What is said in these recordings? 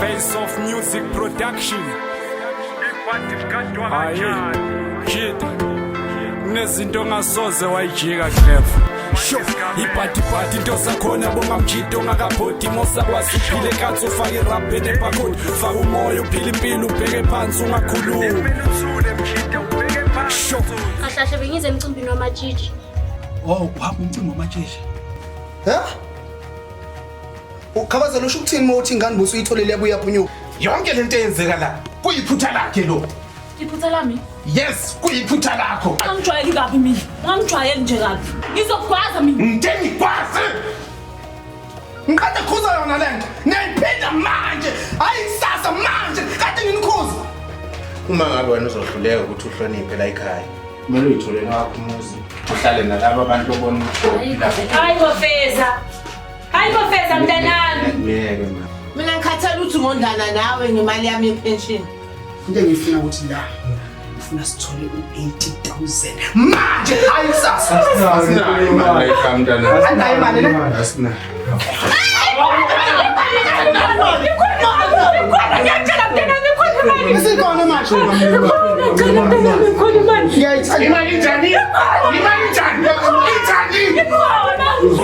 Face of Music Production. Hayi, kid. Kunezinto ongasoze wayijika clever. Sho, ibhadi bhadi into zakhona bonga mjidi ongakabhodi mosakwazi uphile kanti ufake irabhe ebhakodi faka umoya uphile impilo ubheke phansi ungakhulumi sho kahlahle bengize emcimbini wamatshitshi Oh, wapha umcimbi wamatshishi. Huh? Ukhabazela usho ukuthini uma uthi ingane busu uyitholele yabuya phunyuka. Yonke lento eyenzeka la kuyiphutha lakhe lo. Iphutha lami? Yes, kuyiphutha lakho. Ungangijwayeli kabi mina. Ungangijwayeli nje kabi. Ngizokugwaza mina. Ngeke ngigwaze. Ngiqeda khuza yona lento. Niyayiphinda manje. Hayi kusasa manje. Kade nginikhuza. Uma ngabe wena uzohluleka ukuthi uhloniphe la ekhaya. Kumele uyithole ngakho umuzi. Uhlale nalabo abantu obona ukuthi. Hayi bafeza. Hayi professor mntanami. Ngeke ma. Mina ngikhathala ukuthi ngondana nawe ngemali yami yepension. Into engifuna ukuthi la ngifuna sithole u-80000 manje hayi kusasa. Asinayo imali kamntana. Asinayo imali na? Asinayo. Isikhona manje. Imali njani? Imali njani? Imali njani?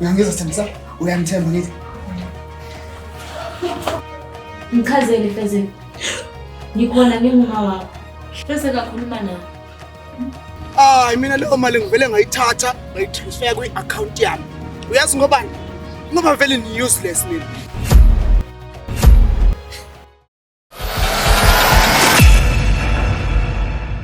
Uyangizwa Sithembisa? Uyangithemba ngithi. Ngichazele Fezeni. Ngikhona nginguma wakho. Bese kakhuluma nawe. Hayi mina leyo mali ngivele ngayithatha ngayitransfer kwi-account yami. Uyazi ngobani? Ngoba vele ni useless mina.